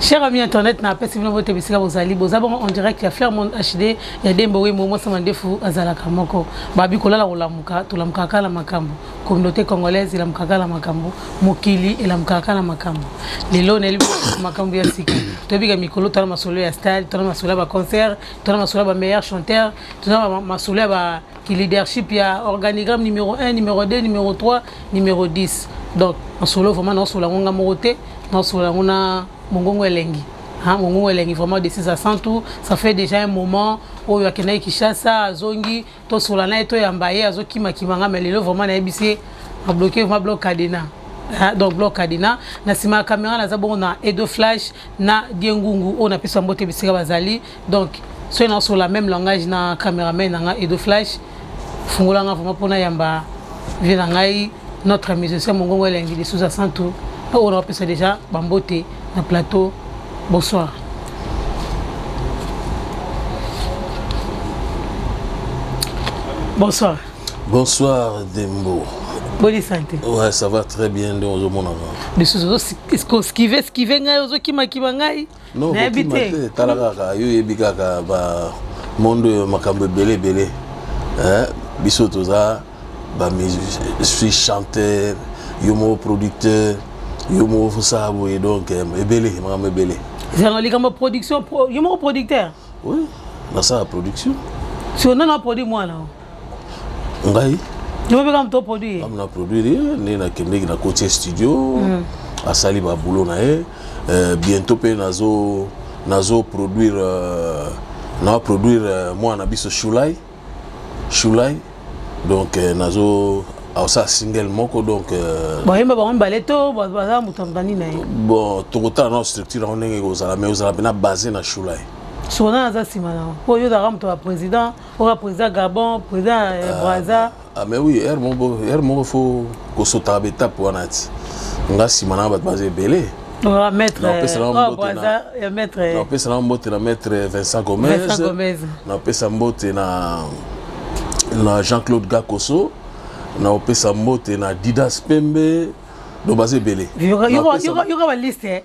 Cher ami internet na apesi bino bote bisika bozali boza bongo en direct ya Fairmont HD ya Dembo Wemo Mwasa Mandefu azalaka moko babi kolala kolamuka tolamuka kaka na makambo communauté congolaise elamuka kaka na makambo mokili elamuka kaka na makambo lelo nayeli makambo ya sika toyebika mikolo tona masolo ya stade tona masolo ya baconcert tona masolo ya bameilleur chanteur tona masolo ya ba ki leadership ya organigramme numéro 1 numéro 2 numéro 3 numéro 10 donc nasolo vraiment naosola yango nga moko te naosola yango na mongongo elengi hein, mongongo elengi vraiment de 6 à 100 tout ça fait déjà un moment oyo akendaki kinshasa azongi tosola na ye toyamba ye azokimakima nga ma lelo vraiment nayebisi ye abloke vraiment bloc cadena Hein, donc bloc cadena na nsima ya caméra naza bongo na edo flash na diengungu oyo napesa mbote bisika bazali donc soki nasola même langage na cameraman na nga edo flash fungola nga vraiment mpona yamba vie na ngai notre musicien mongongo elengi lisusu ya santu mpo oyo nakopesa déjà bambote na plateau bonsoir bonsoir bonsoir dembo boni sante ouais ça va très bien nde ozomona nga lisusu ozoskive skive ngai ozokimakima ngai non kokima te tala kaka yo oyebi kaka bamonde oyo makambo ebele ebele biso toza suis chanteur yo moko producteur yo moko fosala boye donc eh, ebele makambo ebele zanga likambo production yo moko producteur oui nasala production so nano aproduit mwana ngai obeka moto produit ye na produire ye nde nakendeki na koti ya studio mm. asali baboulot na ye euh, bientôt mpe nazo nazo produire euh, na produire euh, mwana na biso shulai shulai donc euh, nazo aosala single moko donc euh, boyemba bango mibale to baza moto ya mobandi na ye bon tokotala na structure yango ndenge ekozala mais ozala mpena base na shulai sona aza nsima na yango mpo yo ozalaka moto ya président ora président gabon président euh, ah, braza ah, mais oui heure moko heure moko fo kosotaka baetape wana ti nga nsima na bato baza ebele napesa na mbote na maître vincent gomez napesa mbote na na jean-claude gakoso naopesa mbote na didas pembe donc baza ebele yoka baliste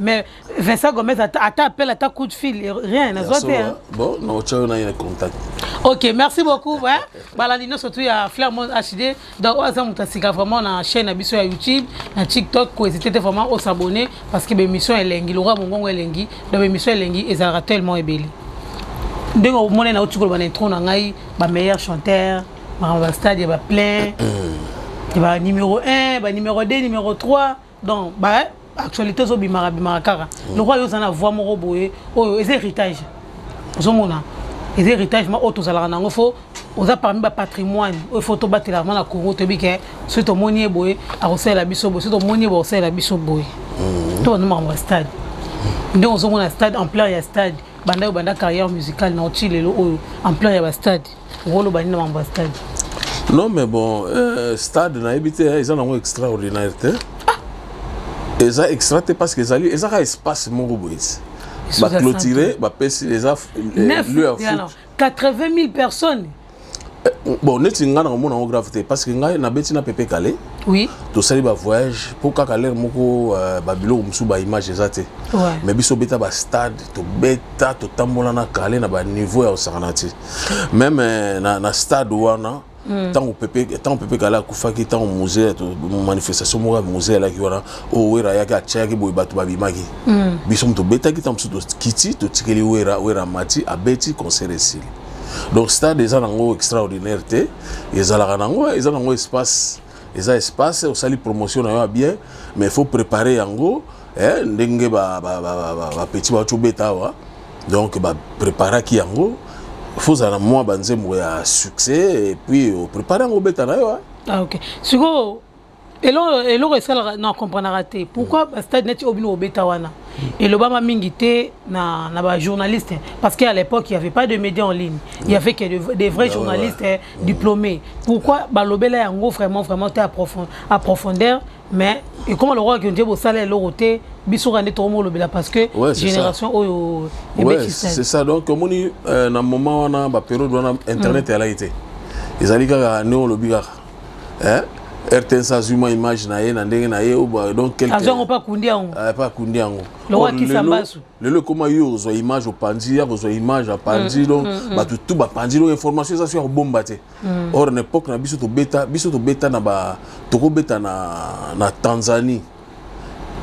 mais Vincent Gomez ata appelle ata coup de fil rien na zote hein. bon na otchao na yene contact OK merci beaucoup hein balandi no surtout ya Flairmont HD donc oza muta sika vraiment na chaîne na biso ya YouTube na TikTok ko hésiter vraiment au s'abonner parce que l'émission elengi lora mongongo elengi donc l'émission elengi ezalaka tellement ebele ndenge omona na otikolo bana intro na ngai ba meilleur chanteur makambo ba stade ya ba plein ba numéro 1 ba numéro 2 numéro 3 donc ba actualité ezobimaka bimaka kaka mm. lokola yo oza na voix moko boye oyo eza héritage ozomona eza héritage ma oyo tozalaka nango fo oza parmi bapatrimoine oyo fo tobatelaka ma na congo toyebi ke soki tomoni ye boye akosalela biso boye soki tomoni ye boye akosalela biso boye mm. to banda makambo ya stade ndenge ozomona stade ampleur ya stade banda yo banda carrière musicale na oti lelo oyo ampleur ya bastade okoloba nini na mambo ya stade non mais bon euh, stade nayebi te eza nango extraordinaire te ah! eza extra te parce que ezali eza kaka espace moko boye baclotire bapesi eza euh, lieu ya foot 80 000 personnes euh, bon neti ngai na komona yango grave te parce que ngai nabeti na pepe kale oui. tosali bavoyage mpo kaka lere moko euh, babiloko mosusu baimage eza te ouais. mais biso obeta bastade tobeta totambola na kale na baniveau ya kosakana te meme euh, na, na stade wana ntango hmm. pepe ntango pepe kala akufaki ntango musee manifestation moko ya musee alaki wana oyo wera ayaki atyaki boye bato babimaki hmm. biso moto tobetaki ntango mosusu tokiti totikeli wera wera mati abeti concert esili donc stade eza nango extraordinaire te ezalaka nango eza nango espace eza espace osali promotion na yo ya bien mais il faut préparer yango eh, ndenge bapeti bawaki obeta awa donc bapreparaki yango fozala na mwa banzembo ya succès epuis oprepare yango obeta na yo hein. ah, ok sikoyo eloko esalaka na comprenaka te pourquoi hmm. bastade neti oyo bino obeta wana hmm. elobama mingi te na, na bajournaliste parce qu'à l'époque il n'y avait pas de médias en ligne il y hmm. avait que de, des vrais ah, journalistes ouais, ouais. diplômés pourquoi balobela yango vraiment vraiment te approfondeur mais ekoma lokola ke nde bosala eloko te biso kaka nde tokomolobela parce que ouais, génération oyo c'est ça donc omoni euh, na moment wana baperiode wana internet mm. eyalaki te ezali kaka ndenge olobi kaka eh? rtns azwi mwa image na ye na ndenge na ye donc quelqu'azwango mpe akundi yango eh, mpe akundi yango lelo ekoma yo ozwa image opanzi ya kozwa image apanzi mm, donc mm, mm. bato tu bapanzi donc information eza so ya kobomba te Mm. Or na époque na biso tobeta biso tobeta na ba tokobeta na na Tanzanie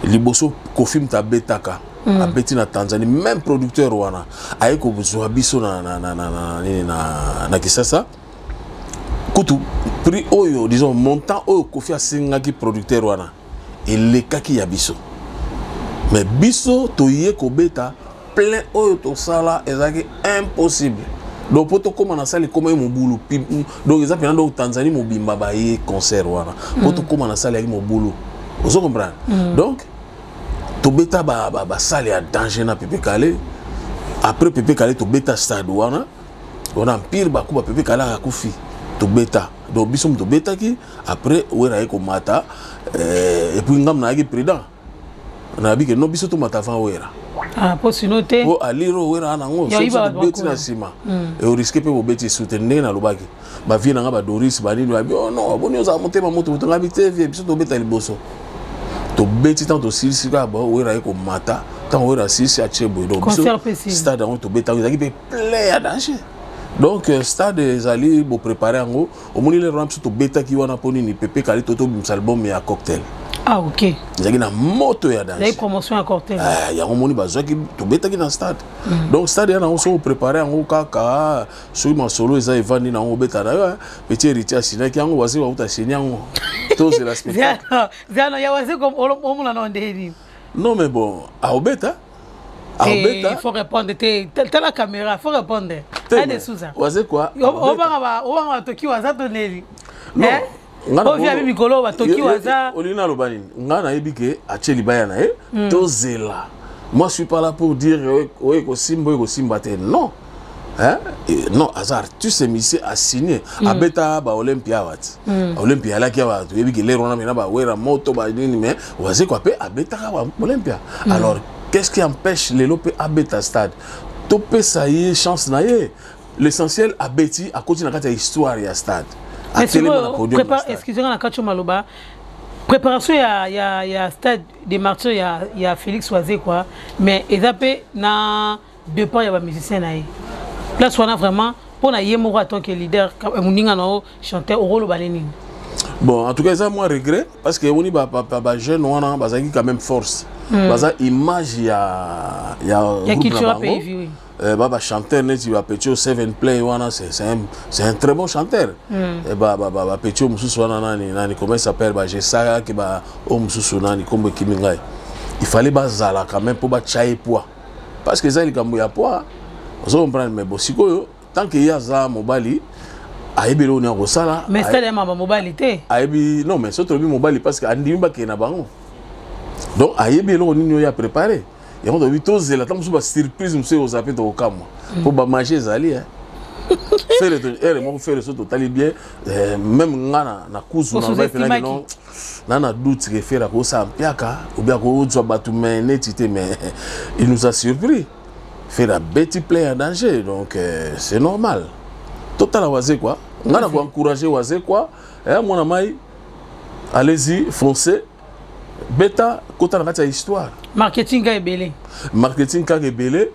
liboso Kofi Mta abetaka mm. abeti na Tanzanie même producteur wana aye kozwa biso na na na na na, na, na, na Kisasa kutu prix oyo disons montant oyo Kofi asengaki producteur wana elekaki ya biso mais biso toye kobeta plein oyo tosala ezalaki impossible donc mpo tokóma na sale ekomaki mobulu donc eza mpena donc tanzanie mobimba baye concert wana mpo mm. tokóma na sale yaki mobulu ozo comprendre mm. donc tobeta basale ya danger na pepe kale après pepe kale tobeta stade wana wana mpire bakuba pepe kale akakufi tobeta donc biso moto tobetaki après wera aye komata euh, epuis ngambo nayaki prudent nayebi ke no biso tomata avant wera Ah, po sino te po alire oyo wera nango sokobeti na nsima hmm. eoriske mpe bobeti esu te ndenge nalobaki bavie na ngai badoris banini babi oh non boni ozala motema moto moto ngai te vie biso tobeta liboso tobeti ntango tosilisi kaka bawera ye komata ntango wera asilisi atie boye donc biso stade yango tobetaki ezalaki mpe plein ya danger donc euh, stade ezali boprépare yango omoni lelo wana biso tobetaki wana mpo nini pepe kali to tobimisa album ya cocktail ah ok ezalaki na moto ya danse promotion ya cocktail ah, yango omoni bazwaki tobetaki na stade mm. donc stade ya nango soki oprépare yango kaka soki masolo eza evandi na yango obeta na yo eh, petit héritier asinaki yango waziri wakuta asini yango tozela spectacle zano ya waziri omonana ndeni non mais bon aobeta abeta faut répondre te tala caméra faut répondre ade souza waze quoi obanga ba obanga ba toki waza to neli non eh? ovia bi mikolo ba toki waza olingi naloba nini ngai nayebi ke atie libaya na ye hmm. tozela moi je suis pas là pour dire oye kosimba oye kosimba te non Hein? Et non aza artiste musicien assigne mm. abeta ba olympia awa ti mm. olympia alaki awa toyebi ke lero wana mena bawera moto banini mais wazekwa mpe abetaka ba olympia mm. alors qu'est ce qui empêche lelo mpe abeta stade topesa ye chance na ye l'essentiel abeti akoti na kati ya histoire ya stade atelema na podium excuse nga na kati yo maloba préparation ya, ya, ya stade de martyr ya, ya félix wazekwa mais eza mpe na depend ya ba musicien na ye place wana vraiment mpo na ye moko atant que leader eh, moninga na yo chanteur okoloba ne nini bon en tout cas eza mwa regret parce que omoni bajeune wana bazalaki quand même force hmm. baza image ya ya groupe na bango Euh, ba ba chanteur neti ba petio seven play wana c'est c'est un c'est un très bon chanteur mm. et eh, ba ba ba, ba petio mususu wana nani nani comment s'appelle ba jesaka ki ba o mususu nani kombo kimi ngai il fallait bazala quand même pour ba chaye poids parce que eza likambo ya poids ozo comprendre mais bon sikoyo tant que ye aza mobali ayebi eloko nini akosala mais stade ya mama mobali te ayebi non mais soki tolobi mobali parce que andimi bakee na bango donc ayebi eloko nini oyo ya préparé yango tolobi tozela ntango mosusu basurprise mosusu ekozala mpe tokokamwa mpo bamage ezali eh. fere ere eh, moko fere so totali bien eh, meme nga na kuzu na ngai mpenaki non na na doute ke fere akosala mpiaka obi akozwa bato me neti te me il nous a surpris fere abeti plein ya danger donc euh, c'est normal totala wazekwa ngai na koencourage wazekwa eh, mwana mai allez-y foncez beta kota na kati ya histoire marketing kaka ebele marketing kaka ebele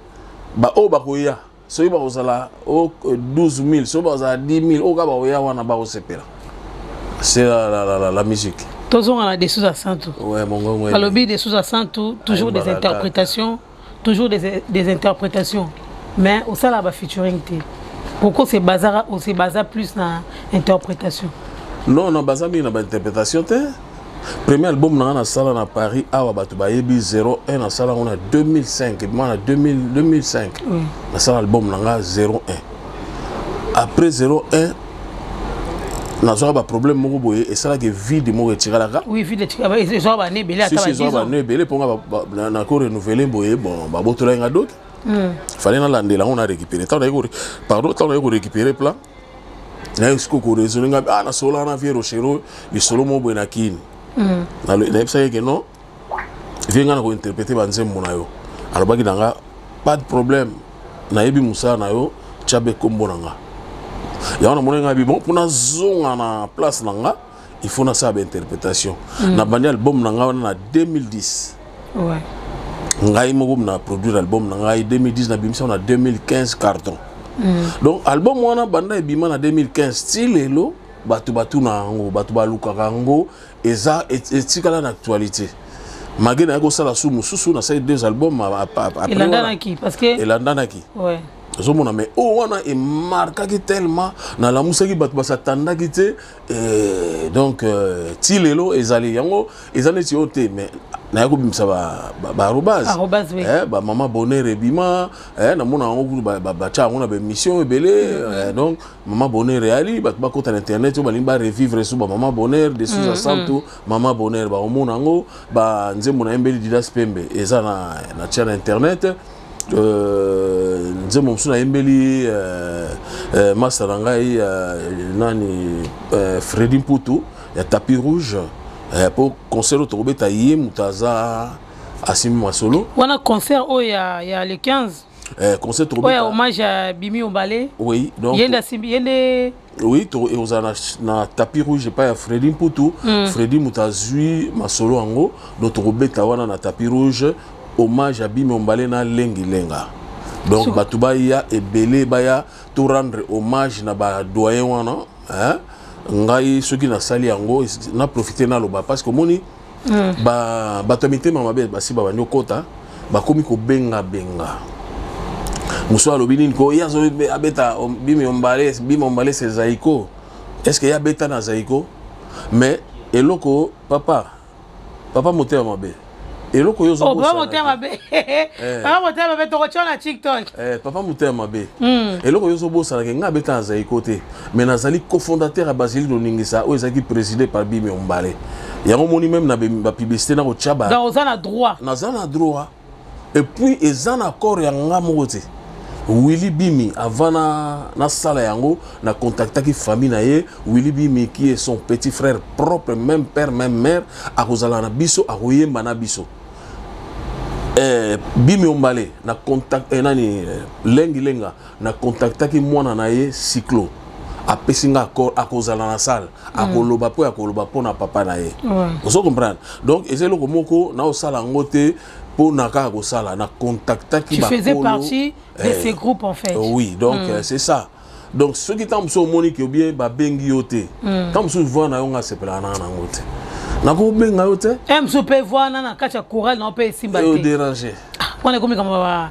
baoyo bakoya soki bakozala 12000 soki bakozala 10000 oyo kaka bakoya wana bakosepela c'est la, la, la, la, la musique tozonga na dessus ya santu ouais, alobi dessus ya santu toujours des interprétations toujours des, des interprétations mais osala bafeaturing te pourquoi se basa plus na interprétation non na baza mingi na bainterprétation te premier album na nga nasala na paris awa bato bayebi 01 nasala yango na 2005 ebima na 2005 mm. nasala album na nga 01 après 01 nazwaka baproblème moko boye esalaki vide moko etikalaka bana ebele mpo nga nakorenouvele boye bon babotolaki nga doki hmm. fale nalandela yango na récupéré ntango naye pardon ntango naye korécupéré plan naye sikoyo koraisonne ngai ah nasololaka na vie rochero lisolo moko boye na kini mm. nayebisaki eke non vie ngai na kointerprete banzembo na yo alobaki na nga pas de problème nayebi mosala na yo tya be nkombo na nga yango namoni ngai bibon mpo nazonga na place na nga il faut nasala ba interprétation mm. na bandi album na ngai wana na 2010 ouais. ngai moko na produire album na ngai 2010 na bimisa na 2015 carton mm. donc album wana banda ebima na 2015 ti lelo bato batuna yango bato balukaka yango eza etikala na actualité mage naye kosala su mosusu nasali deux album elandanaki parce que elandanaki ouais. ozomona mai oyo wana emarkaki tellement nalamusaki bato basatandaki te Euh, donc euh, ti lelo ezali yango eza neti oyo te mais naye kobimisa baarobase eh, bamama bonheur ebima eh, namona yango kutu batya yango na baémission ebele mm-hmm. eh, donc mama bonheur eyali bato bakota na internet oyo balingi barevivre so bamama bonheur de suza santu mm-hmm. mama bonheur bakomona yango banzembo na yembeli didas pembe eza na tya na internet Euh, nzembo mosusu nayembeli euh, euh, masta na ngai nani fredi mputu ya tapis rouge mpo concert oyo tokobeta ye moto aza asimi masolo wana concert oyo ya, ya le 15 eh, concert tokobeta oyo hommage ya bimi obale oui donc yende asimbi yende oui ekozala na, na tapi rouge epai ya fredi mputu mm. fredi moto azwi masolo yango donc tokobeta wana na tapi rouge hommage ya bimi ombale na lengilenga donc so. bato baya ebele baya to rendre hommage na badoyen wana hein? ngai soki nasali yango naprofite naloba parce que omoni mm. ba bato ya mitema mabe basi babandi okota bakomi kobenga benga mosusu alobi nini ko ye azobeta bimi ombale bimi ombale se zaiko est ce que ye abeta na zaiko mais eloko papa papa motema mabe eloko yo oh, papa motema mabe eh. papa motema mabe tokotya na tiktok eh, papa motema mabe hmm. eloko yo ozobosanake ngai abeta na zaiko te mais nazali cofondateur ya basilique de ningisa oyo ezalaki préside par bimi ombale yango omoni meme na bapublicité na kotya baoza na droit naza na droit epuis eza na accord ya nga moko te willi bimi avant nasala yango na contactaki famille na ye willi bimi qui est son petit frère propre même père même mère akozala na biso akoyemba na biso eh, bimi ombale na contact eh, nani eh, lengi lenga na contactaki mwana na ye cyclo apesi nga accord akozala na salle hmm. akoloba mpo ya koloba mpo na papa na ye ozo comprendre donc eza eloko moko naosala yango te mpo na kaka kosala na contactaki bakolo tu faisais partie de eh, ces groupes en fait oui donc mm. euh, c'est ça donc soki ntango mosusu omoni ke obie babengi yo te hmm. ntango mosusu voi na yo nga asepelaka nanga nango te nakobenga yo te eh, mosusu mpe voi na na kati ya coral na yo mpe esimba te derange ah, wana ekomi kama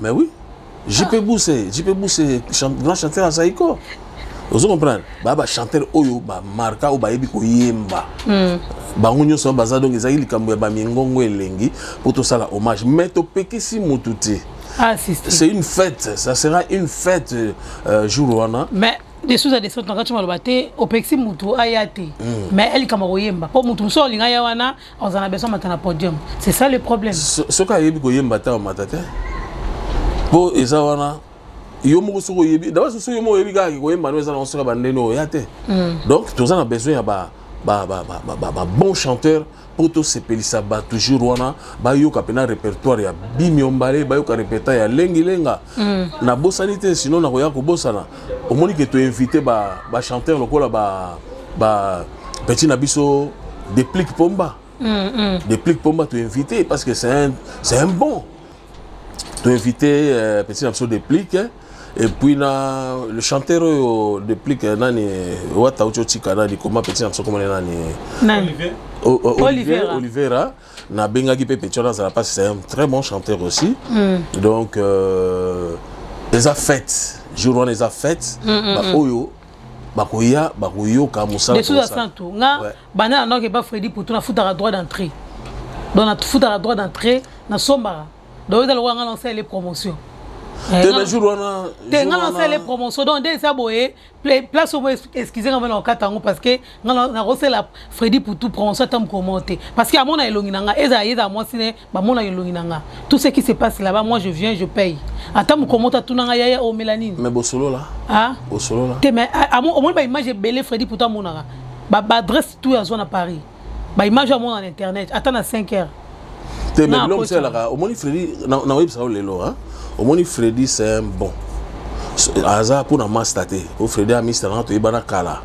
Mais oui. JP ah. Bousse, JP Bousse, grand chanteur à Zaïko. ozo comprendre baya bachanteur oyo bamarka oyo bayebi koyemba hmm. bango nyonso wana baza donc ezalaki likambo ya bamingongo elengi mpo tosala hommage mais topekisi motu te ah, c'est une fête ça sera une fête euh, jour wana mais desuza descente na kati maloba te opekisi motu aya te hmm. mais elikama koyemba mpo motu mosusu olinga ya wana oza na besoin mata na podium c'est ça le problème soki ayebi koyemba ata omata te mpo eza wana yo moko soki oyebi daba soki yo moko oyebi kaka koyemba no eza nango soki bandeni oya te hmm. donc toza na besoin ya ba ba, ba, ba, ba, ba, ba bon chanteur mpo tosepelisa bato jour wana bayoka mpena répertoire ya bimiombale bayoka répertoire ya lengilenga mm. nabosani te sino nakoya kobosana omoni ke to invite ba ba chanteur lokola ba ba petit na biso déplique pomba mm, mm. déplique pomba to invite parce que c'est un c'est un bon to invite euh, petit na biso déplique hein. et puis na le chanteur oyo déplique euh, nani wata ucho tika nani comment petit na biso comment nani nani Olivier Oliveira, Oliveira. nabengaki mpe petit wana azala mpasi c'est un très bon chanteur aussi mm. donc euh, eza fête jour wana eza fête mm, mm, baoyo mm. bakoya bakoyoka mosala de soza santu nga ouais. banda na noke ba fredi poto nafutaka droit d'entrée donc nafutaka droit d'entrée nasombaka donc eza lokola nga nasalele promotion eh, te mais jour wana te nga nasalele promotion donc nde eza boye place oyo excuse nga bana okata yango parce que nga nakosela fredi poutou prononce ata mokomo te parce que amona elongi na nga ezala ye ezala mwasi ne bamona elongi na nga tout ce qui se passe là-bas moi je viens je paye ata mokomo te atuna nga yaya omela nini mais bosolola ah bosolola te mais omoni baimage ebele fredi poutou amonaka baadresse tout azwa na paris ba image ya mona na internet ata na 5 heures te mais biloko mosalaka omoni fredi nakoyebisa yo lelo omoni fredi c'est un bon aza mpona masta te o fredi amista nanga toyebana kala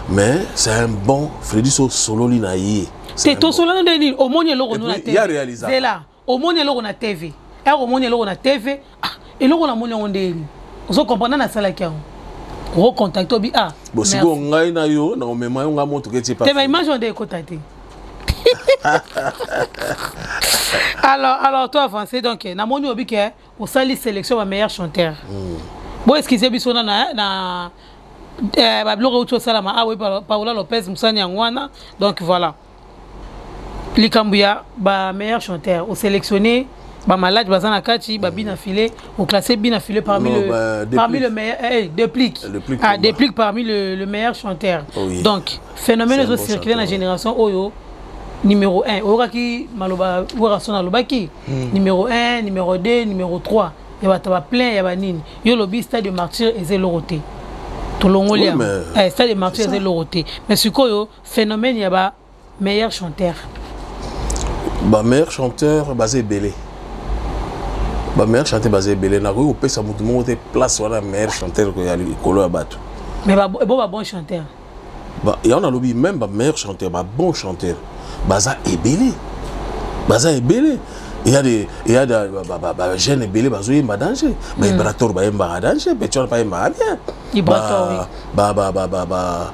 mais c'est un bon fredi so osololi na ye te tosolani nde nini omoni eloko nuna te ya réalisazela omoni eloko na tv ere eh, omoni eloko na tv ah, eloko namoni yango ndeni ozo comprendre nasalaki yango okocontacte obi ah bosikoyo ngai na yo na omema yo ngai motuka etie te baimage wana nde ekota te alors alors toi avancé donc eh, namoni obi ke osali sélection ba meilleur chanteur hmm. bo excuse biso na na eh, babiloko euti osalama awa ah paola lopez mosani yango wana donc voilà likambo ya ba meilleur chanteur oselectionne bamalade baza na kati babi na filet oklasse bi na filet parmi non, le, bah, parmi le meilleur eh, eh déplic ah, déplic parmi le, le meilleur chanteur oh, oui. donc phénomène ezo circuler na génération oyo numéro 1 oyokaki maloba werason alobaki hmm. numéro 1 numéro 2 numéro 3 ya bato ba plein ya banini yo olobi stade de martyr eza eloko te tolongoli yango eh, stade de martyr eza eloko te mais sikoyo phénomène ya ba meilleur chanteur ba meilleur chanteur baza ebele ba meilleur chanteur baza ebele nakoki kopesa motu moko te place wana meilleur chanteur ya likolo ya bato mais bo ba bon chanteur yango nalobi même ba meilleur chanteur ba bon chanteur baza ebele baza ebele eya de eya de bajeune ebele bazoyemba danger ba ibrator bayembaka danger betion bayembaka bien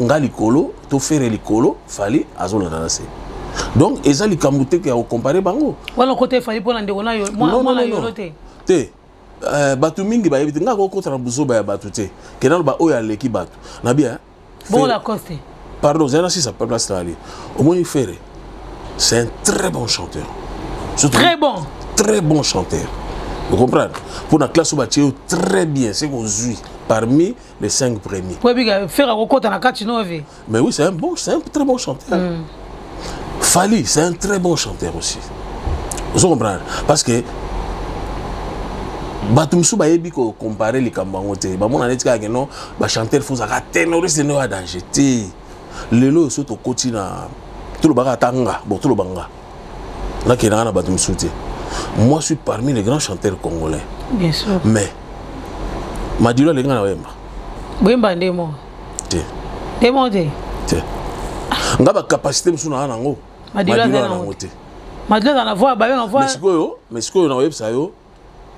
nga likolo to fere likolo fali azolanda na se donc eza likambo te ya kokompare bango wana kote fali mpona ndeko nayo mwana yolo te te eh, bato mingi bayebi te ngai kokota na buzoba ya bato te kenda loba oyo aleki bato na bien bola coste pardon zana sisa place na ali omoni fere c'est un très bon chanteur Surtout, très bon très bon chanteur vous comprenez pour la classe oyo batie yo très bien se kozwi parmi les cinq premiers. Oui, oui, faire un record dans la carte, non, oui. Mais oui, c'est un bon, c'est un très bon chanteur. Mm. Fali, c'est un très bon chanteur aussi. Vous comprenez Parce que bato mosusu bayebi kocompare likambo yango te bamona neti kaka keno bachanteur fo ozalaka tenoriste nde oya danger te lelo oyo so tokoti na tolobaka ata nga bo toloba nga nakendaka na bato mosusu te moi suis parmi les grands chanteurs congolais bien sûr mais madilo alingi nga na oyemba boyemba nde moko te nde moko te te nga bacapacité mosusu naa nango madilo aza nango te madilo aza na voi babenga voi sikoyo mais sikoyo nakoyebisa yo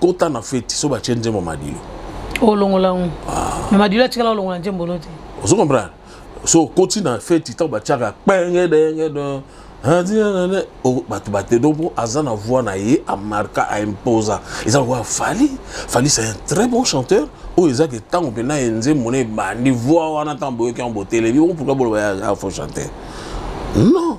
kota na feti so batye nzembo madilo olongola yango ah. me madilo atikala olongola nzembo no te ozo comprendre so okoti na feti ntango batyaka pengedengede bato bate donc mpo aza na voix na ye amarka aimposa eza lokola fali fali c'est un très bon chanteur oyo eza ke ntango mpena ye nzembo na ebandi voix wana ntango boyoki yango botelemi o pourkui boloba ya faux chanteur non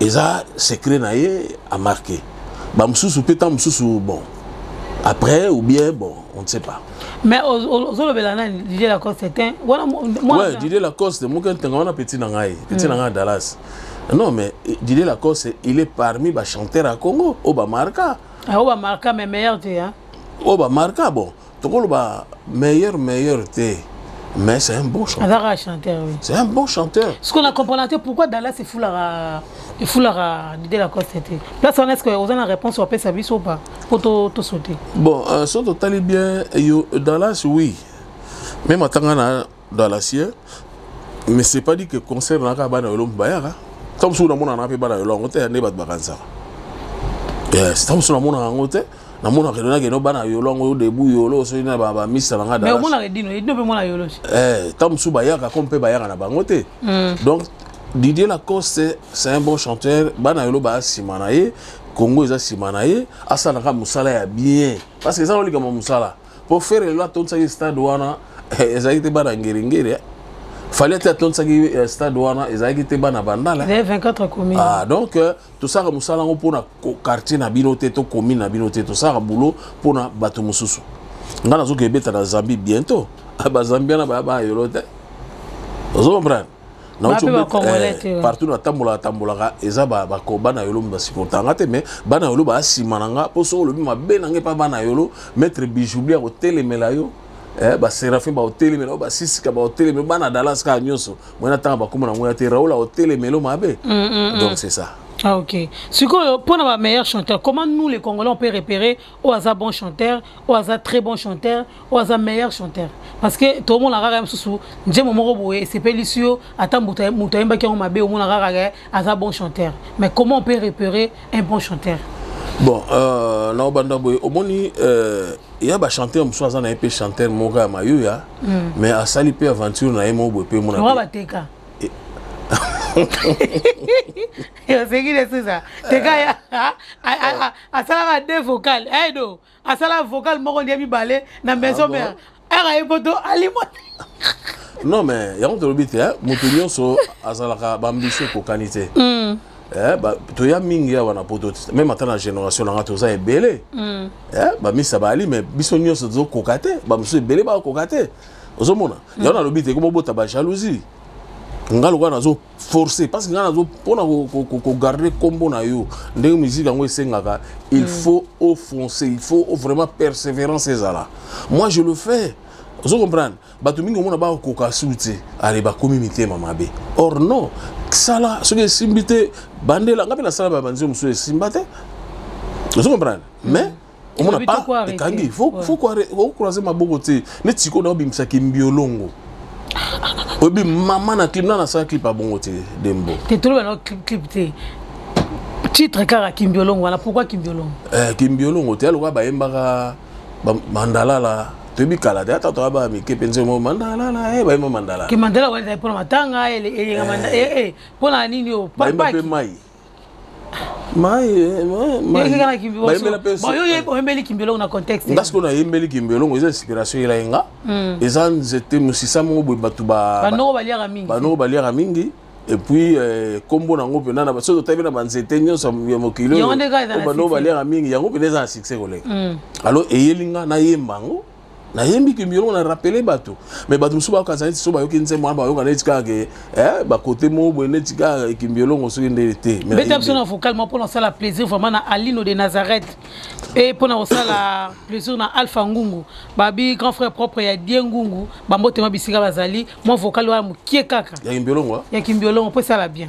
eza secret na ye amarke bamosusu mpe ntango mosusu bon après ou bien bon on ne sait pas mais ozolobela nani didier lacoste te wana ouais, didier lacoste moke ntenga wana petit na ngai petit na hmm. ngai dallas non mais eh, didier lacoste il est parmi bachanteur ya congo oyo bamarka oyo bamarka mais meilleur te oyo bamarka bon tokoloba meilleur meilleur te mais c'est un bon chanteur azaka chanteur oui c'est un bon chanteur ce qu'on a comprendre te pourquoi Dallas efulaka efulaka Didier Lacoste te place wana est-ce que oza na réponse opesa biso ou pas po to to sauter bon euh, so totali bien yo Dallas oui mais matanga na dans la sienne mais c'est pas dit que concert naka bana yolo mbayaka ntango mosusu namonana mpe bana yolo yango te ya nde bato bakanisaka yes ntango mosusu namonaka yango te namona kendo nakendo bana yolo yango debu yolo soki na bamisa na ngai ntango mosusu bayaka ko mpe bayaka na bango te hmm. donc didier lacoste c'est un bon chanteur bana yolo baya nsima na ye congo eza nsima na ye asalaka mosala ya bien parce que eza na likambo ya mosala mpo fere lelo atondisaki stade wana eh, ezalaki te bana ngeringeri eh. fali ate atondisaki eh, stade wana ezalaki te bana bandala ah, donc tosaka mosala yango mpona quartier na bino te to commune na bino te tosaka boulot mpona bato mosusu ngai nazoki ebeta na zambie bientôt ah, bazambiana baya bayolo te ozo comprendre Eh, partout natambolaka tambolaka eza bana yolo basipota nga te mais bana yolo baa nsima na nga mpo soki olobi mabe na ngai mpa bana yolo maître bijoubli akotelemela yo eh, baserafin baotelemela yo basisika baotelemela bana dalas kaka nyonso moi natanga bakoma na ngoi ya te raoul aotelemelo mabe mm, mm, mm. donc c'est ça Ah ok. Sikoyo, pour la meilleure chanteur, comment nous les Congolais on peut repérer oyo aza bon chanteur oyo aza très bon chanteur oyo aza meilleur chanteur parce que tomona kaka ya mosusu njembo moko boye esepelisi yo ata moto ayembaki yango mabe omona kaka ke aza bon chanteur mais comment on peut repérer un bon chanteur bon euh, na obanda boye omoni euh, ya bachanteur mosusu aza na ye mpe chanteur moko ya mayoya mm. mais asali mpe aventure na ye moko boye mpe mona bateka oseki lesusa teka asalaka de vocal aido eh, asala vocal moko lia mibale na ah maison mère ere aye poto alimwa non mais yango tolobi te moto nyonso azalaka baambisio ekokani te hmm. eh, toya mingi awa na poto te meme ata na génération na ngai toza ebele hmm. eh, bamisa baali mais biso nyonso tozokoka te bamosusu ebele bakoka te ozomona yango hmm. nalobi te komobota bajalousie ngai lokola nazo forcé parce que nga nazo mpona kogarde nkombo na yo ndenge musique yango esengaka il mm. faut au foncer il faut vraiment persévérance ezala moi je le fais ozo comprendre bato mingi omona bakokoka su te ale bakomi mitema mabe or non sala soki esimbi te bandela nga mpe nasala babanzi mosusu esimba te ozo comprendre mais mm. omona pa ekangi fokroise maboko te neti sikoyo na obimisa kimbiolongo oyebi mama na clip na nasala clip abongo te dembo te toloba na clip te titre kaka kimbiolongo wana pourkui kimbiolongo eh, kimbiolongo te alokola bayembaka bandalala toyebi kala te ata toya baya mike mpenza mo mandalala e bayemba mandalala ke mandala wana ezali mpona matanga eyenga mpona nini obayemba mpe mai oyembeli kimbiolongo na contexte nga sikoyo nayembeli kimbiolongo eza inspiration yela ye nga hmm. eza nzete mosisa moko boye bato banoko baliaka mingi epuis eh, nkombo nango mpena na soki totabi na banzete nyonso ya mokili oyo banoko baliaka mingi yango mpena eza na succès koleka hmm. alors eyeli nga nayemba yango nayembi kimbi eloko na rappele bato me bato mosusu bayokanisa neti so bayoki nzembo wana bayoka neti kaka ke eh, bakote moko boye neti kaka ekimbi elongo soki nde te beta biso na vocal moko mpona kosala plaisir vraiment na alino de nazareth mpe mpona kosala plaisir na alpha ngungu babi grand frère propre ya die ngungu bambotema bisika bazali mwa vocal wana mokie kaka ya kimbi elongo ya kimbi elongo mpo esala bien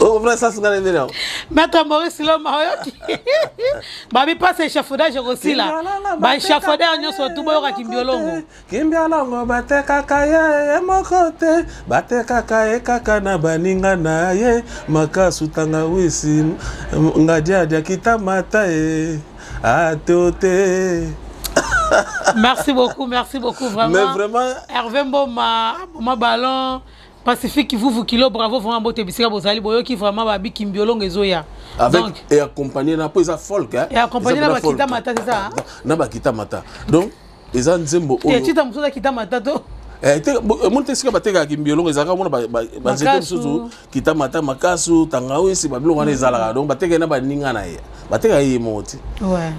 okomona sasi ngai na ndeni yango maître maurice loma oyoki babipasa échafaudage ekosila baéchafaudeur nyonso tu boyoka kimbiolongo kimbiolongo batekaka ye ye moko te batekaka ye kaka na baninga na ye makasu tanga wisi ngadiadia kitamata ye ateo te merci beaucoup merci beaucoup vraiment, Mais vraiment... hervé mboma boma ballon Pacifique Vuvu Kilo bravo vraiment bote bisika bozali boyoki vraiment ba biki mbiolongo ezoya. Avec donc, et accompagné na po eza folk hein. Et accompagné na bakita mata c'est ça. Hein? Na bakita mata. Donc eza nzembo oyo. Te chita musoza kita mata to. Eh, te eh, moni te esika batekaka kimbiolongo ezalaka mona banzete mosusu kita mata makasu tangawisi babiloko wana ezalaka donc batekaki na baninga na ye batekaka ye moko te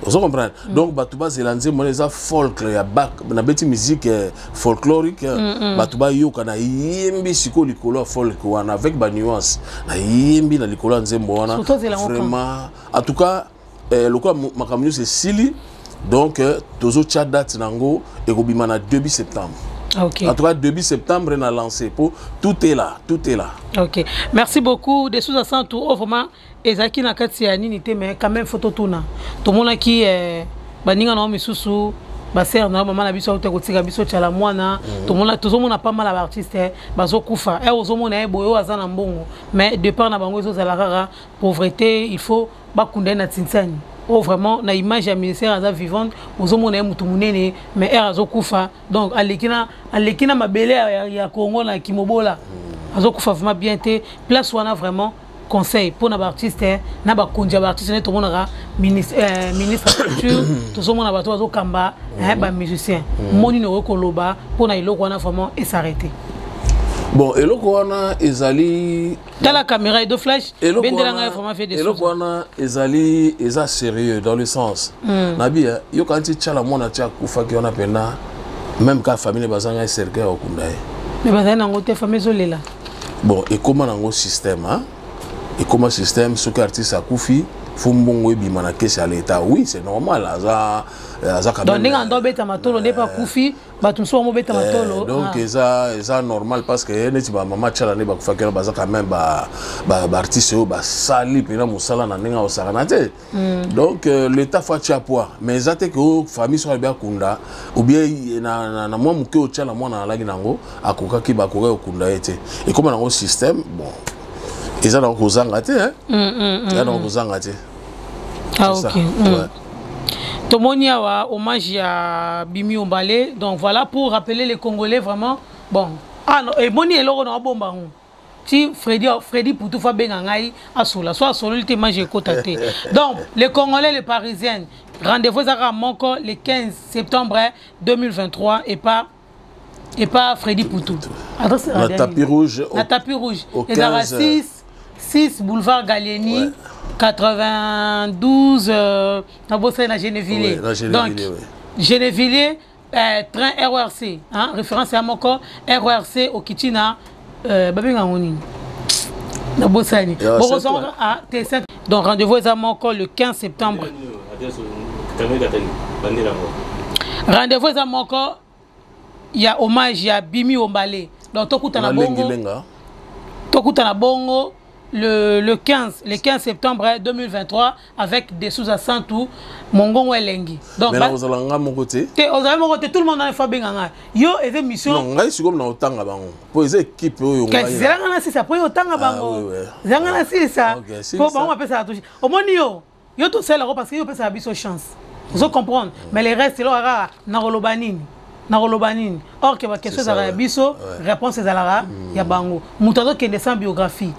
ozo comprendre mm. donc bato bazela nzembo wana eza folkle ya bak nabeti musique eh, folklorique eh. mm, mm. bato bayoka nayembi sikoyo likolo ya folk wana avec banuance nayembi na likolo ya nzembo wana vraiment en tout cas eh, lokola makambo nyonso esili donc eh, tozotya date na yango ekobima na 2 septembre Okay. En tout cas, début septembre, on a lancé. Pour, tout est là, tout est là. Ok. Merci beaucoup. Des sous-assants, tout, oh, vraiment. ezalaki na kati ya nini te mais quand même faut totuna tomonaki eh, baninga na yo misusu basere na yo mama na biso auta kotika biso tyala mwana mhm. tomona tozomona pa mala baartiste eh, bazokufa e eh, ozomona ye eh, boye oyo aza na mbongo mais depart na bango ezozala kaka pauvreté il faut bakunda ye na tintiani oyo oh, vraiment na image ya ministère aza vivante ozomona ye motu monene mais aire azokufa donc aleki na aleki na mabele ya, ya congo na kimobola mhm. azokufa vraiment bien te place wana vraiment conseil mpo na baartiste na bakonzi ya baartiste nde tomonaka ministre euh, culture tozomona bato bazokamba eh, bamusicien mm. moni nini okoki koloba mpo na eloko wana vraiment esarrete bon eloko wana ezali tala caméra edo flash bendela ngai vraiment fait des eloko wana ezali eza sérieux dans le sens mm. nabi eh, yoka nti tiala mwana ti akufaki wana mpena même ka famille bazanga cercueil okunda ye mais bazali nango te famille ezolela bon ekoma nango système hein? ekoma système soki artiste akufi fo mbongo ebima na kesi ya leta oui c'est normal aza euh, aza donc ndenge ando abeta matolo nde mpe akufi bato mosusu bango beta matolo donc ah. eza eza normal parce que eh, neti bamama tiala nde bakufaki wana baza quand même baartiste oyo basali mpena mosala na ndenge aosakana te Mm. donc euh, l'état faut atya poa mais eza te ke oh, famille soki alobi akunda oubien na, na, na mwa moke otya na mwana alaki na yango akokaki bakokaki kokunda ye te ekóma nango système bon eza nango kozanga te mm, mm, mm, eza nango mm. kozanga te ah, okay. mm. ouais. tomoni awa hommage ya bimi obale donc voilà pour rappeler les congolais vraiment bon ah, no, eboni eh, eloko na obomba yango ti Freddy Freddy Poutou fa benga ngai asola so asololi te mange ekota te donc les congolais les parisiennes rendez-vous ezaka moko le 15 septembre 2023 et pas et pas Freddy Poutou adresse la tapis rouge la tapis rouge ezaka 6 6 boulevard Gallieni ouais. 92 euh, na bosali na Geneville ouais, donc ouais. Geneville eh, train rrc hein? référence ya moko rrc okiti na euh, babenga yango nini nabosani bokozonga ah, te donc rendez-vous eza moko le 15 septembre rendez-vous eza moko ya hommage ya bimi ombale donc tokutana bongo tokutana bongo le, le 15 le 15 septembre 2023 avec des sous à saint ou mongongo elengi donc mais ozala nga moko te te ozala moko te tout le monde na fa benga nga yo eza mission non ngai siko na otanga bango po eza équipe oyo ngai kasi zela nga na sisa po yo otanga ah, bango zela nga na sisa po bango apesa touche omoni yo yo tosala ko parce que yo pesa biso chance ozo comprendre mais les restes eloko kaka nakoloba nini nakoloba nini or ke baquestion ezalaka ya biso réponse ezalaka hmm. ya bango moto azokende sans biographie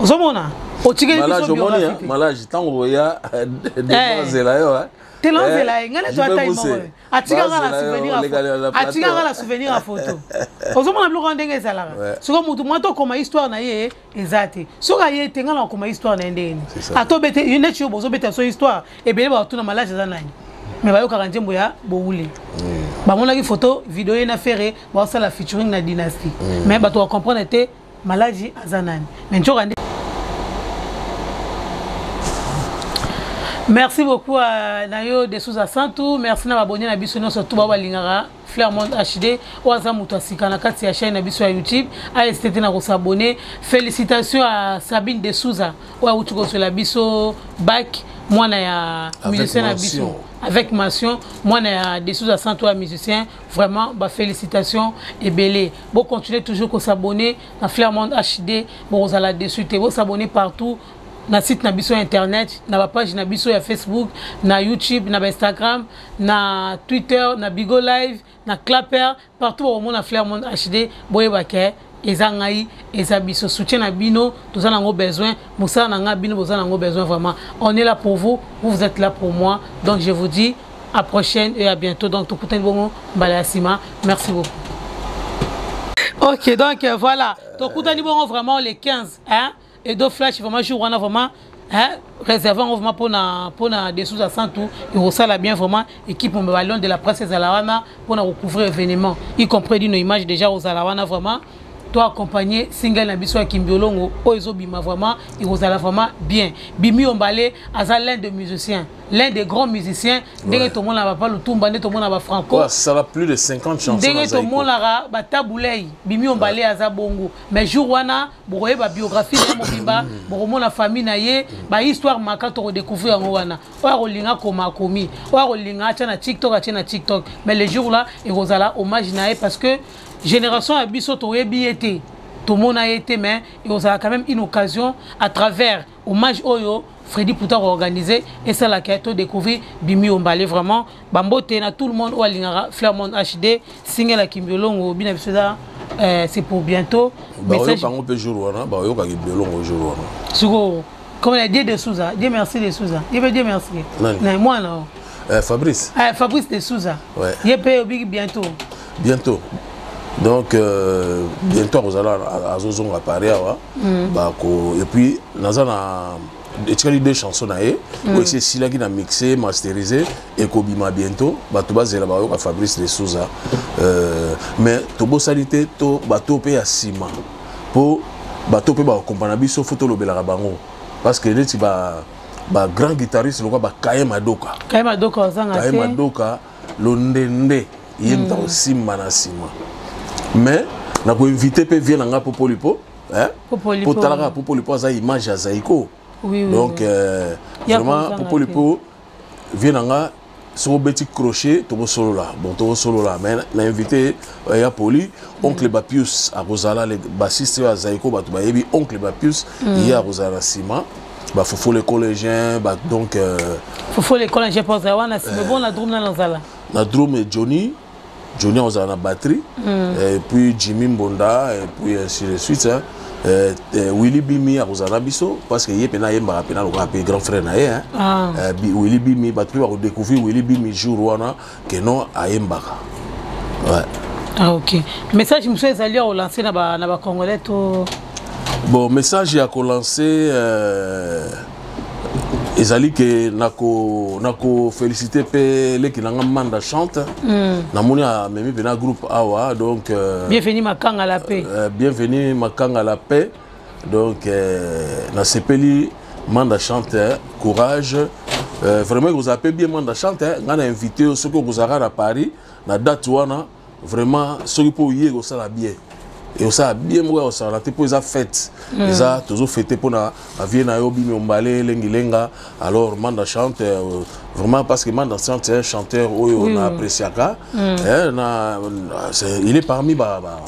ozomona otikeli biso biographie malage ntango boya demazela yo tela ozela ye ngai neto atai moko atikanga na souvenir atikanga na souvenir ya foto ozomona biloko wana ndenge ezalaka sikoyo motu mwa tokoma histoire na ye eza te soki aye te ngai nakoma histoire na ye ndenge nini atobete neti yo bozobeta so histoire ebele bato na malage eza nani me bayokaka nzembo ya bowule mm. bamonaki foto video ye na fere baosala featuring na dynastie mm. me bato bacomprendre te malage aza nani me ncoka nde merci beaucoup euh, na yo de souza santu merci na babonye na biso nyonso tu babalingaka Flair Monde HD oyo aza moto ya sika na kati ya chaîne na biso ya YouTube ASTT na kosabone félicitation à Sabine de Souza oyo awuti kozwela biso bac mwana ya musicien na biso avec mention mwana ya de Souza santo ya musicien vraiment ba félicitation ebele bo continuer toujours kosabone na Flair Monde HD bokozala dessus te bosabone partout na site na biso ya internet na bapage na biso ya facebook na youtube na bainstagram na twitter na bigo live na clapper partout bakomona flair monde hd boyeba ke eza ngai eza biso soutien na bino toza nango besoin mosala na ngai bino boza nango besoin vraiment on est là pour vous vous vous êtes là pour moi donc je vous dis à prochaine et à bientôt donc tokutani bongo mbala ya nsima merci beaucoup ok donc euh, voilà tokutani bongo vraiment le 15 hein Edo Flash vraiment jour wana vraiment hein réserve yango vraiment mpona mpona dessous ya santu ekosala bien vraiment équipe mobeba lion de la presse ezala wana mpona kocouvrir événement y compris dino image déjà ozala wana vraiment to accompagner single na biso ya kimbiolongo oyo ezobima vraiment ekozala vraiment bien bimi ombale aza l'un de musiciens l'un des grands musiciens ndenge tomona papa lutumba nde tomona bafranco asala plus de 50 chansons ndenge tomonaka batabulei bimi ombale aza bongo mais jour wana bokoyeba biographie na mobimba bokomona famille na ye bahistoire maka tokodecouvrir yango wana oyo akolinga akoma akomi oyo akolinga atya na tiktok atye na tiktok mais le jour là ekozala hommage na ye parce que génération ya biso toyebi ye te tomona ye te mais ekozala quand même une occasion à travers hommage oyo Freddy Pouta organisé et ça la to découvrir Bimi Ombale vraiment bambote na tout le monde ou alingara Flairmont HD single à Kimbiolongo bina bisoda euh, c'est pour bientôt bah, message bango pe jour wana ba yoka Kimbiolongo jour wana suko comme la Dieu de Souza Dieu merci de Souza Dieu Dieu merci na moi non euh, Fabrice euh, Fabrice de Souza ouais. ye pe obiki bientôt bientôt donc euh, bientôt akozala azozonga paris awa mm. bako et puis naza na etikali deux chansons na ye mm. oyo esi esilaki na mixe masterise ekobima bientôt bato bazela bayoka fabrice de souza euh, mais tobosani te to bato mpe ya nsima mpo bato mpe bakokompana biso fo tolobelaka bango parce que neti ba, ba grand guitariste lokola ba kaye madoka kaye madoka londende ye moto mm. akosimba na nsima mais nakoinvite mpe vie na ngai popolipo eh? po talaka popolipo aza image ya zaiko oui, oui, donc oui. Euh, vraiment popolipo vie na ngai soki obeti crochet tokosolola bon tokosolola mais na invité euh, ya poli oncle mm. bapius akozala bassiste oyo azaiko bato bayebi oncle bapius mm. ye akozala na nsima ba fufu les collégiens ba donc euh, fufu les collégiens pour ça wana c'est bon la drum na nzala na drum et Johnny Johnny on a la batterie mm. et puis Jimmy Mbonda et puis ainsi de suite hein. Euh, euh, Willy Bimi akozala biso parce que ye pena yembaka pena lokola pe grand frère na ye hein. ah. euh, Willy Bimi bato mpe bakodécouvrir Willy Bimi jour wana que non ayembaka ouais. ah, ok message mosusu ezali ya kolanse na bacongolais to bon message ya kolanse euh, ezali ke nakofelicite nako mpe leki na nga manda chante mm. namoni amemi mpena groupe awa donc euh, bienvenu makanga la paix euh, bienvenu makanga la paix donc euh, nasepeli manda chante hein. courage euh, vraiment ekozala mpe bien manda chante hein. ngai na invite yo soki okozalaka na paris na date wana vraiment soki mpo oye ekosala bien ekosala bien moko ya kosala te mpo eza fete mm. eza tozo fete mpo na bavie na yo bimi ombale elengilenga alors manda chante euh, vraiment parce que manda chante un chanteur oyo mm. na appréciaka mm. eh, na, il est parmi ba, ba,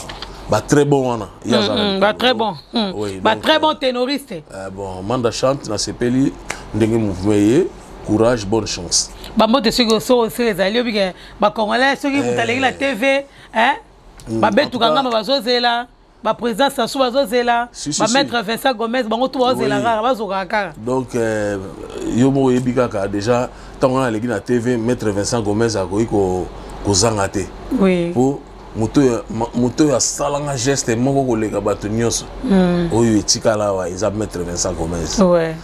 ba très bon wana Ba mm, mm, bah, très bon. Mm. Oui, bah, donc, très bon euh, ténoriste. Euh, bon, Manda chante, na sepeli, ndenge mouvement ye, courage, bonne chance. Ba mbote soki osoro sere ezali obi ke ba congolais soki moto alengi na TV, hein? Ba betu kanga ba bazozela. Ba président Sassou bazozela, si, si, ba maître Vincent Gomez bango tout bazozela kaka, bazoka kaka. Donc euh, yo mo yebi kaka déjà tant on a leki na TV, maître Vincent Gomez akoki ko kozanga te. Oui. Pour moto oyo asalanga geste moko koleka bato nyonso hmm. oyo etikala awa eza maître vincent gomez ouais.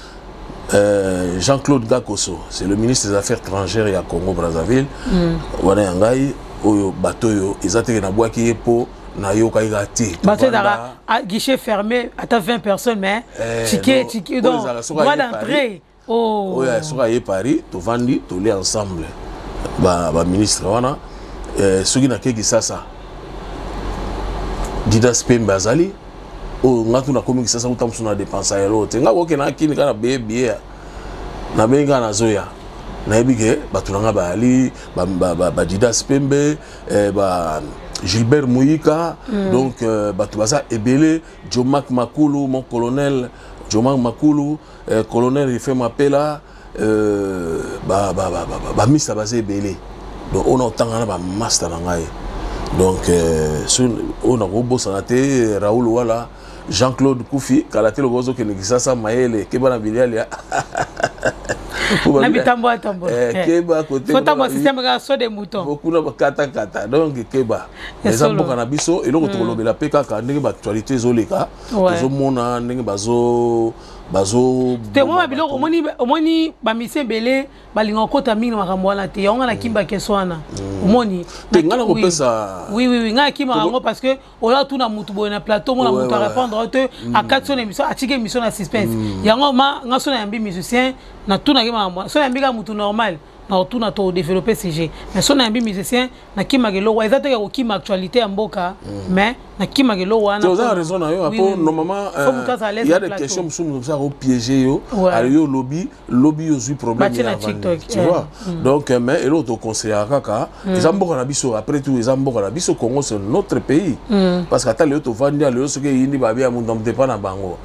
Euh, Jean-Claude Gakoso, c'est le ministre des Affaires étrangères ya Congo Brazzaville. Hmm. Wana ya ngai oyo bato oyo eza teke na bwaki ye po nayokaki ka te bato ezalaka guichet fermé ata 20 personnes mais eh, tike tike donc droit d'entrée oh. oyo oh. soki aye paris tovandi toli ensemble baministre ba wana eh, soki nake kisasa didas pembe azali oyo nga tu nakomi kisasa kuta mosusu na depense ya lelo te nga koke na kini kaka beye biye nabengi kaka nazoya nayebi ke bato na nga bayali badidas pembe eh, ba gilbert moyika mm. donc euh, bato baza ebele jomak makulu mon colonel jomak makulu eh, colonel rife mapela euh, bamista baza ebele donc oyo na otanga na bamasta na ngai donc euh, oyo nakobosana te euh, raoul wala jean claude kufi kala te lokola ozokende kisasa mayele keba na bilialia na bitambo atambo eh, keba koteotambo systeme kaka so de mouton bokuna bakatakata donc keba eza mboka na biso eloko hmm. tokolobela mpe kaka ndenge baactualité ezoleka tozomona ndenge bazo bazotengoma biloko omoni bamisi ebele balinga kokota mingi na makambo wana te yango nga na kimba keso wana mm. omoni wiwiwi nga akimaka yango parce que oyo atuna motu boye na plateau mona motu arépondre oyo te mm. akati so na émission atiki émission na suspense mm. yango ma nga so nayambi musicien natunaki makambo so nayambi kaka motu normal na otuna to développer sujet mais so nayambi musicien na kima gelo wa ezate ko kima actualité ya mboka mm. mais na kima gelo wana tu as raison na yo apo normalement il y a des questions musu musu ça au piéger yo alors yo lobby lobby yo zui problème ya TikTok tu vois mm. donc euh, mais et l'autre conseil à kaka mm. eza mboka na biso après tout eza mboka na biso Congo c'est notre pays parce que ata leo to vandi leo soki yindi babia mundu mtepa na bango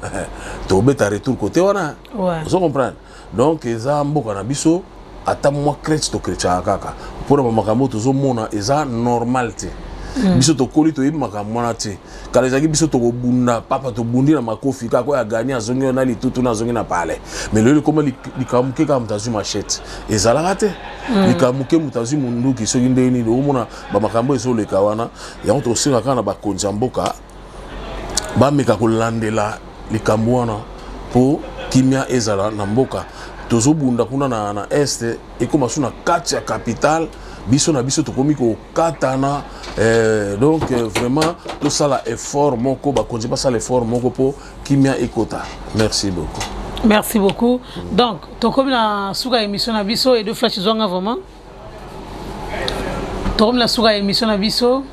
to beta retour côté wana vous comprenez donc eza mboka na biso ata mwa crete tokretchaka kaka mpona bamakambo oyo tozomona eza normal te mm. biso tokoli toyebi makambo wana te kala ezalaki biso tokobunda papa tobundi na makofi kaka oyo agani azongi na litutu na azongi na palais mais loyo likoma likambo moke kaka moto azwi machete ezalaka te mm. likambo moke moto azwi monduki soki ndenge nini okomona bamakambo ezoleka wana yango tokosenga kaka na bakonzi ya mboka bameka kolandela likambo wana mpo kimia ezala na mboka tozobunda kuna na, na este ekoma so na kati ya capitale biso na biso tokomi kokatana eh, donc eh, vraiment tosala effort moko bakonzi basala effort moko mpo kimia ekota merci beaucoup merci beaucoup donc tokomi na suka ya émission na biso edo flash zwanga vraiment tokomi na suka ya émission na biso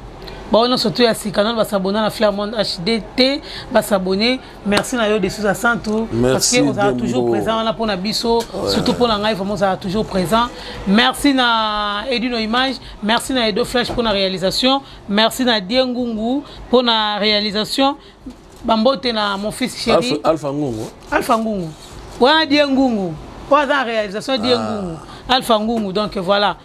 baoyo nyonso to ya sika nano basabona na flairmond hd te basabone merci na yo de sousa santu parce que ozala toujours présent wana mpo na biso surtout mpo na ngai vraiment ozala toujours présent merci na edino image merci na edo flash mpo na réalisation merci na diengungu mpo na réalisation bambote na mon fils chéri alpha ngungu alpha ngungu wana die ngungu oyo aza na réalisation die ah. ngungu alpha ngungu donc voilà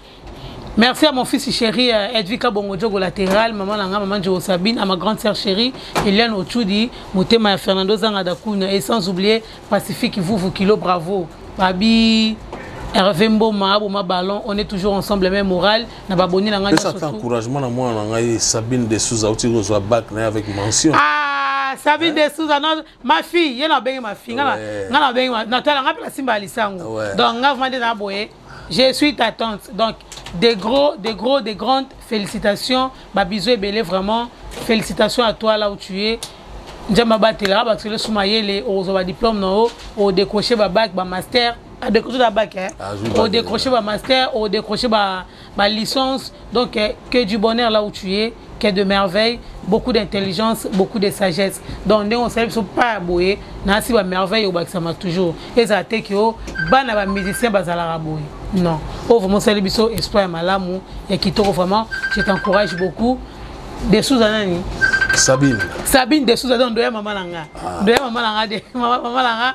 Merci à mon fils chéri euh, Edvika Bongodjogo latéral, maman Langa, maman Djogo Sabine, à ma grande sœur chérie Eliane Ochudi, Motema et Fernando Zangadakuna, et sans oublier Pacifique Vuvu Kilo, bravo. Babi, Hervé Mboma, Boma Ballon, on est toujours ensemble, même morale. na baboni na ngai pesa ata encouragement na mwana na ngai sabine de souza auti kozwa bac na ye avec mention ah, sabine de souza non ma fille ye na bengi ma fille nga na bengi na tala nga mpe na simba ya lisango donc nga vraiment nde na boye je suis ta tante donc des gros des gros des grandes félicitations babiso ebele vraiment félicitations à toi là où tu es nzambe abatela bato elosuma yele okozwa badiplome na yo odécroche babac bamaster adécroche na bake odécroche bamaster odécroche balicence donc eh, que du bonheur là où tu es que de merveille beaucoup d'intelligence beaucoup de sagesse donc ndenge osali biso pa ya boye nasi bamerveille obakisama toujours ezala te ke o bana bamusicien bazalaka boye non oyo vraiment osali biso espoir ya malamu ya kitoko vraiment je t'encourage beaucoup de souza nani sabine sabine de souza donc ndoya mama na nga ah. ndoya mama na nga de mama na nga